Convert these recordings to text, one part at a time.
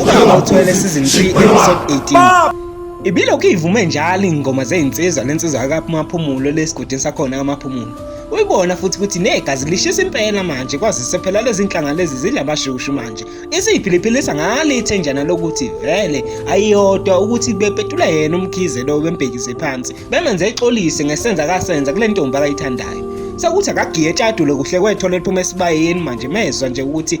Ukuyoma uthwele season 3 episode 18. Ibilokhu ivume njalo ingoma zezinsizwa lensizwa akaphumulo lesigudini sakhona amaphumulo. Uyibona futhi ukuthi negazi lishisa impela manje kwazise phela lezi nhlanga lezi zilabashushu manje. Isiyiphiliphilisa ngale ithenjana lokuthi vele ayiyodwa ukuthi bepetula yena umkhize lo bembhekise phansi. Bemenze exolise ngesenza kasenza kule ntombi akayithandayo. Sekuthi akagiye etshadule kuhle kwethola liphuma esibayeni manje mezwa nje ukuthi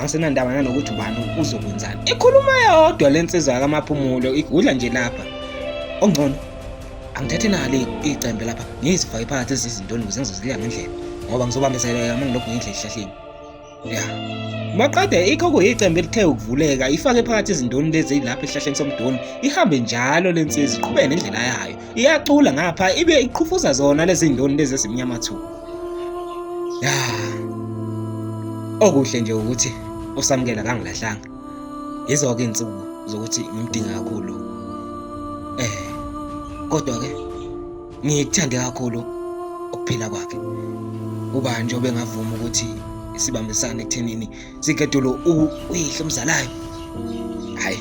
asenandaba nanokuthi ubani uzokwenzani ikhuluma yodwa le nsizwa yakamaphumulo igudla nje lapha ongcono angithathe nalo icembe lapha ngiyizifake phakathi ezizintoni ukuze ngizozilya ngendlela ngoba ngizobambezeleka uma ngilokhu ngidla esihlahleni ya maqede ikho kuyicembe elithe ukuvuleka ifake phakathi ezindoni lezi lapha esihlahleni somdoni ihambe njalo le nsizwa iqhubeke nendlela yayo iyacula ngapha ibe iqhufuza zona lezi ndoni lezi ezimnyama thu ya okuhle nje ukuthi usamukela kangilahlanga yizo-ke iy'nsuku zokuthi ngimdinga kakhulu eh kodwa-ke ngikuthande kakhulu ukuphila kwakhe ubani nje obengavuma ukuthi sibambisane ekuthenini Sigedulu uyihlo umzalayo. Hayi.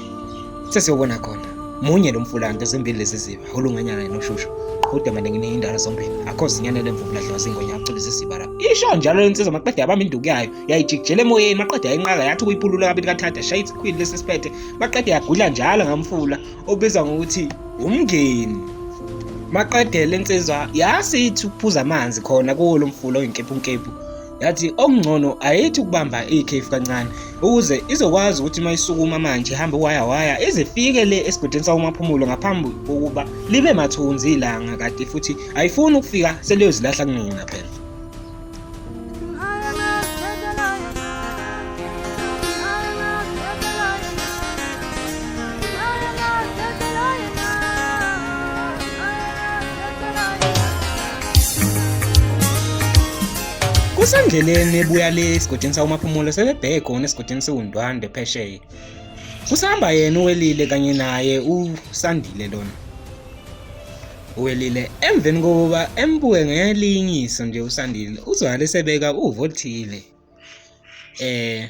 Sesiyobona khona. Munye lo mfulanda ezimbili lezi ziba olunganyana noshushu. Kodwa manje ngine indalo zombili. Akho zinyane lemvubu ladliwa zingonya acule zisiba la. Isho njalo lensizwa maqede yabamba induku yayo. Yayijikijela emoyeni maqede yayinqaka yathi ukuyipulula kabili kathatha shaya isikhwili lesi siphethe. Maqede yagudla njalo ngamfula obizwa ngokuthi umngeni. Maqede lensizwa yasithi ukuphuza amanzi khona kuwo lo mfula oyinkephu nkephu. yathi okungcono ayithi ukubamba ikhefu kancane ukuze izokwazi ukuthi uma isukuma manje ihambe waya waya izifike le esigodini sawumaphumulo ngaphambi kokuba libe mathunzi ilanga kade futhi ayifuni ukufika seliyozilahla kunina phela kusendleleni ebuya le esigodini sawumaphumulo sebebheke khona esigodini siwundwande phesheya kusahamba yena uwelile kanye naye usandile lona uwelile emveni kokuba embuke ngelinyiso nje usandile uzwakale sebeka uvo oluthile eh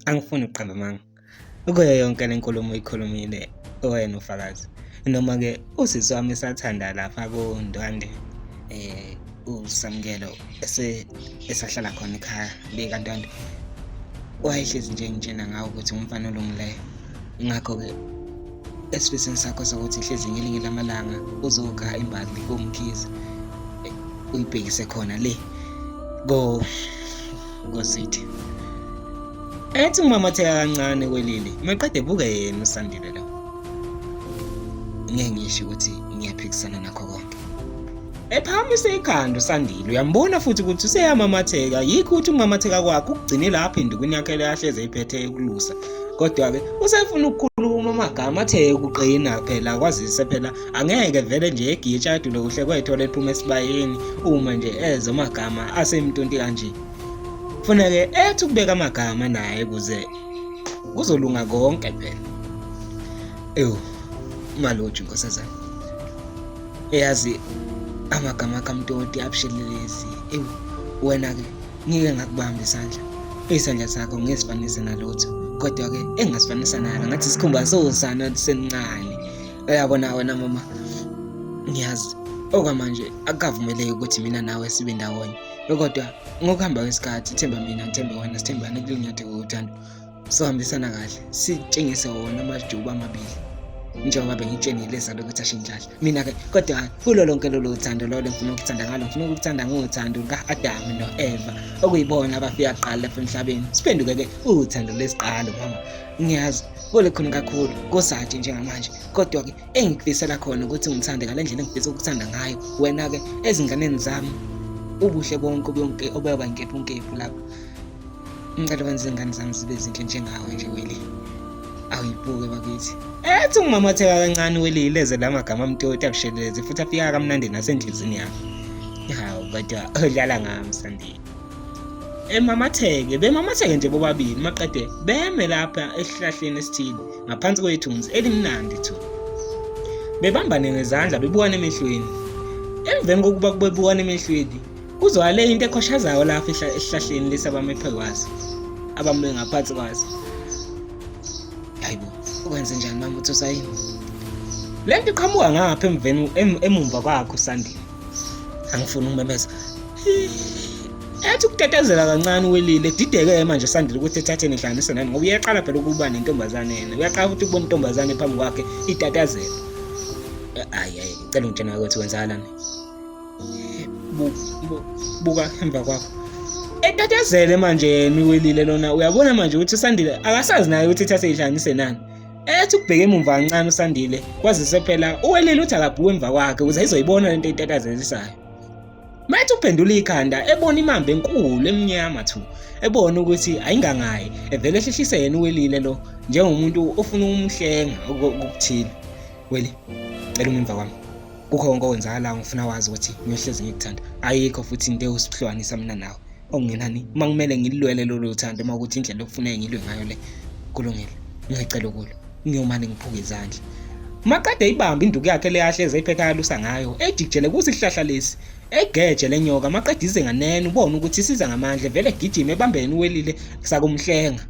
angifuni ukuqamba amanga kuyo yonke le nkulumo uyikhulumile owena ufakazi noma-ke usisi wami esathanda lapha kundwande um eh, usamukelo esahlala khona ekhaya likantwande wayehlezi nje ngitshena ngawo ukuthi ngumfana olungileyo ngakho-ke esifisini sakho sokuthi hlezi ngelinye lamalanga uzokha imbali komkhizi uyibhekise khona le go Ngosithi. Ethi umamotheka kancane kwelili, maqede buke yena usandile lo. Ngeke ngisho ukuthi ngiyaphikisana nakho konke. Ephakamisa ikhanda usandile uyambona futhi ukuthi useyamamatheka yikho ukuthi umamatheka kwakhe ukugcine lapho indukwini yakhe leyahleze iphethe ekulusa kodwa-ke usefuna ukukhuluma amagama athe ukuqina phela kwazise phela Angeke vele nje egiyetshadu lokuhle kwethola ephuma esibayeni uma nje ezo magama asemntunti kanje. Kufuneke ethi ukubeka amagama naye kuze kuzolunga konke phela. Ewu, maloji nkosazana. Eyazi amagama kamtoti abushelelezi. Ewu, wena ke ngike ngakubamba isandla. Isandla sakho ngesifanise nalutho. Kodwa ke engasifanisa nalo ngathi sikhumba sosana sencane. uyabona wena mama ngiyazi okwamanje akukavumeleki ukuthi mina nawe sibe ndawonye kodwa ngokuhamba kwesikhathi themba mina ngithembe wena sithembane kulinyathi kokuthando sohambisana kahle sitshengise wona amajuba amabili njengoba bengitshenile zalo ukuthi ashintshahle mina-ke kodwa kulo lonke lolo thando lolo ngifuna ukuthanda ngalo ngifuna ukuthanda ngothando luka-adamu no-eva okuyibona abafika kuqala lapha emhlabeni siphenduke-ke uthando lesiqalo mama ngiyazi kule khona kakhulu kosathi njengamanje kodwa-ke engikufisela khona ukuthi ngithande ngale ndlela engifisa ukuthanda ngayo wena-ke ezinganeni zami ubuhle bonke bonke obeba nkephu nkephu lapho ngicela wenza izingane zami zibe zinhle njengawe nje weli awuyibuke bakithi ethi ungimamatheka kancane weli ileze la magama amtoti akusheleleze futhi afika kamnandi nasenhlizini yakho hawu kodwa udlala ngami sandile emamatheke bemamatheke nje bobabili maqede beme lapha esihlahleni esithile ngaphansi kwethunzi elimnandi thu bebambane ngezandla bebukana emehlweni emveni kokuba kubebukana emehlweni kuzwakale into ekhoshazayo lapha esihlahleni lesi abamephe kwaso abame ngaphansi kwaso hayibo ukwenze njani mama uthi usayini le nto iqhamuka ngapha emveni emumva kwakho sandile angifuni ukumemeza ethi ukutetezela kancane uwelile dideke manje sandile ukuthi ethatheni ihlanganise nani ngoba uyaqala phela ukuba nentombazane yena uyaqala ukuthi kubona intombazane phambi kwakhe itatazela ayi ayi cela ungitshena ukuthi kwenzakalani buka emva kwakho etatazele manje yena uwelile lona uyabona manje ukuthi usandile akasazi naye ukuthi ithathe ihlanganise nani ethi ukubheka emumva kancane usandile kwazise phela uwelile uthi akabhuke emva kwakhe ukuze izoyibona lento eyitatazelisayo mayethi uphendula ikhanda ebona imamba enkulu emnyama thu ebona ukuthi ayingangayi evele ehlehlise yena uwelile lo njengomuntu ofuna ukumhlenga okuthile weli cela umemva kwami kukho konke okwenzakalayo ngifuna wazi ukuthi ngiyohlezi ngikuthanda ayikho futhi into ewusihlukanisa mina nawe okungenani uma kumele ngilulwele lolu thando uma ukuthi indlela okufuneke ngilwe ngayo le kulungile ngiyacela ukulo ngiyomane ngiphuke izandla maqede ibambe induku yakhe leyahleze iphetha yalusa ngayo ejikjele kusihlahla lesi egeje lenyoka maqede ize nganene ubone ukuthi isiza ngamandla vele gijima ebambeni welile sakumhlenga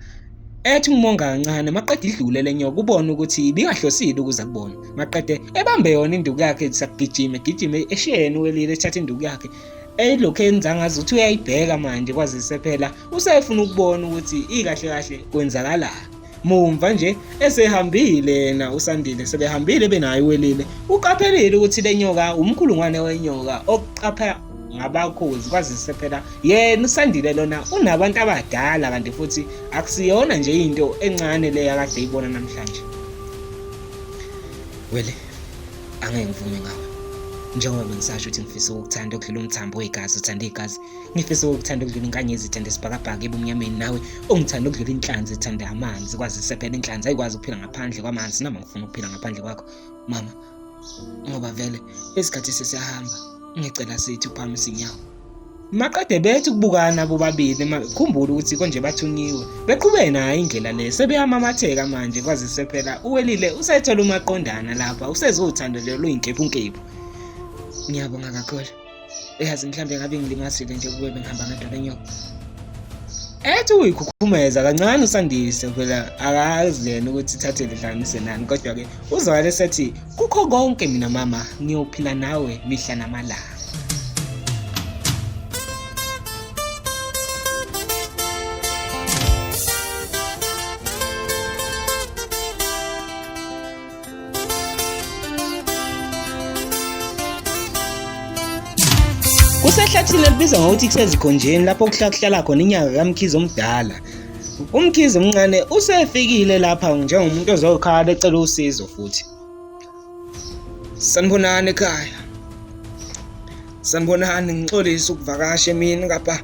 ethi ngimonga kancane maqede idlule lenyoka kubona ukuthi ibingahlosile ukuza kubona maqede ebambe yona induku yakhe sakugijima egijime eshiyeni welile ethatha induku yakhe elokhu enza ngazi ukuthi uyayibheka manje kwazise phela usefuna ukubona ukuthi ikahle kahle kwenzakalani mumva nje esehambile yena usandile sebehambile benayo welile uqaphelile ukuthi lenyoka umkhulungwane wenyoka oqapha ngabakhozi kwazise phela yena usandile lona unabantu abadala kanti futhi akusiyona nje into encane le yakade ibona namhlanje wele angeke ngivume ngawe njengoba bengisasho ukuthi ngifisa ukukuthanda okudlula umthambo wegazi uthanda igazi ngifisa ukukuthanda okudlula inkanyezi ithanda isibhakabhaka ebumnyameni nawe ungithanda okudlula inhlanzi ithanda amanzi kwazise phela inhlanzi ayikwazi ukuphila ngaphandle kwamanzi noma ngifuna ukuphila ngaphandle kwakho mama ngoba vele isikhathi sesiyahamba ngicela sithi uphakamisa inyawo maqede bethi ukubukana bobabili khumbula ukuthi konje bathunyiwe beqhubeke nayo indlela le sebeyamamatheka manje kwaze sephela uwelile usethola umaqondana lapha usezothando nje luyinkephunkepu ngiyabonga kakhulu uyazi mhlawumbe ngabe ngilimazile nje kube bengihamba ngedwa lenyoko ethi uyikhukhumeza kancane usandise phela akazi yena ukuthi ithathe lihlanganise nani kodwa-ke uzwakale sethi kukho konke mina mama ngiyophila nawe mihla namalanga Kusehlathini elibizwa ngokuthi kusezigonjeni lapho kuhlakuhlala khona inyanga kaMkhize omdala. UMkhize omncane usefikile lapha njengomuntu ozokhala ecela usizo futhi. Sanibonani ekhaya. Sanibonani ngixolisa ukuvakasha emini ngapha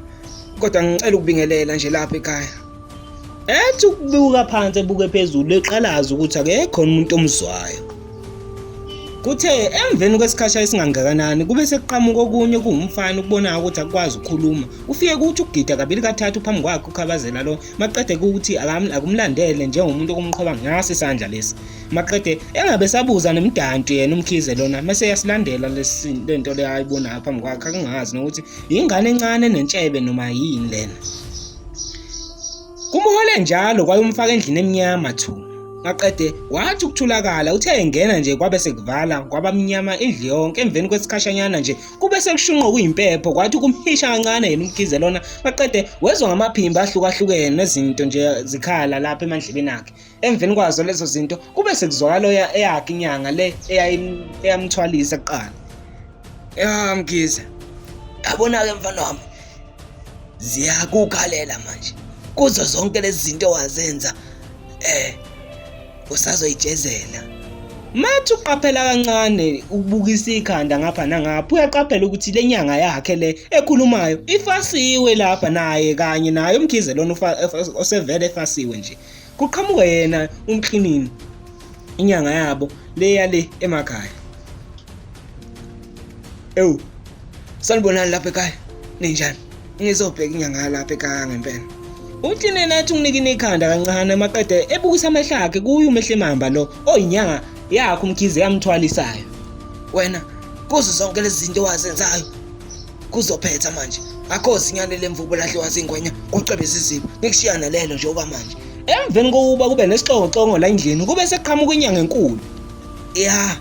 kodwa ngicela ukubingelela nje lapha ekhaya. ethi ukubuka phansi ebuke phezulu eqalaza ukuthi akekho umuntu omzwayo kuthe emveni kwesikhasha esingangakanani kube sekuqhamuka okunye kuwumfana ukubonayo ukuthi akwazi ukukhuluma ufike kuthi ukugida kabili kathathu phambi kwakhe ukhabazela lo maqede kuthi akumlandele njengomuntu okumqhoba ngaso isandla lesi maqede engabe sabuza nemdanti yena umkhize lona mase yasilandela lesi lento leyo ayibonayo phambi kwakhe akungazi nokuthi yingane encane nentshebe noma yini lena Kumhole njalo kwayomfaka endlini emnyama thu. Maqede wathi ukuthulakala uthe engena nje kwabe sekuvala kwabamnyama indlu yonke emveni kwesikhashanyana nje kube sekushunqa kuyimpepho kwathi ukumhisha kancane yena umgize lona maqede wezwa ngamaphimba ahlukahlukene nezinto nje zikhala lapha emandlebeni akhe emveni kwazo lezo zinto kube sekuzwakala eyakhe inyanga le eyamthwalisa kuqala ya mgiza yabona-ke mfana wami ziyakukhalela manje kuzo zonke lezi zinto wazenza eh usazoyijezela mathi uqaphela kancane ubukisa ikhanda ngapha nangapha uyaqaphela ukuthi le nyanga yakhe le ekhulumayo ifasiwe lapha naye kanye naye umkhize lona osevele efasiwe nje Kuqhamuka yena umklinini inyanga yabo le yale emakhaya. Ewu. Sanibonani lapha ekhaya. Ninjani? Ngizobheka inyanga yalapha ekhaya ngempela. Umklinini athi unginikine ikhanda kancane maqede ebukisa amehlo akhe kuyo umehlemamba lo oyinyanga yakhe umkhize yamthwalisayo. Wena kuzo zonke lezi zinto wazenzayo kuzophetha manje akho zinyane lemvubu lahliwa zingwenya kucebe siziba nikushiya nalelo nje oba manje emveni kokuba kube nesixongoxongo la endlini kube sekuqhamuka inyanga enkulu ya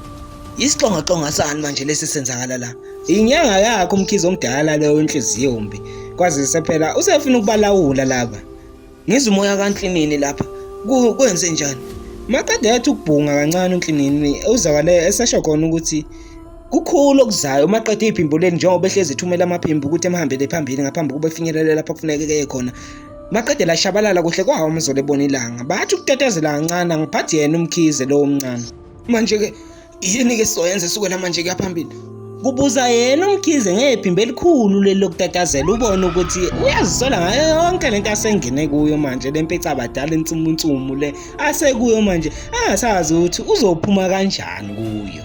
isixongoxongo sani manje lesi senzakala la inyanga yakho umkhizi omdala leyo inhliziyo mbi kwazise phela usefuna ukubalawula laba Ngizwa umoya kaNhlinini lapha. Kwenze njani? Maqede yathi ukubhunga kancane uNhlinini uzakale esesho khona ukuthi kukhulu okuzayo uma qede iphimbo leli njengoba ehlezi ithumela amaphimbo ukuthi emhambele phambili ngaphambi kokuba efinyelele lapho kufuneke keye khona maqede lashabalala kuhle kwawo umzolo ebona ilanga bathi ukutetezela kancane angiphathi yena umkhize lowo mncane manje-ke yini ke sizoyenza esukela manje kuya phambili kubuza yena umkhize ngephimbo elikhulu leli lokutatazela ubone ukuthi uyazisola ngayo yonke lento asengene kuyo manje lempeca abadala insumunsumu le asekuyo manje angasazi ukuthi uzophuma kanjani kuyo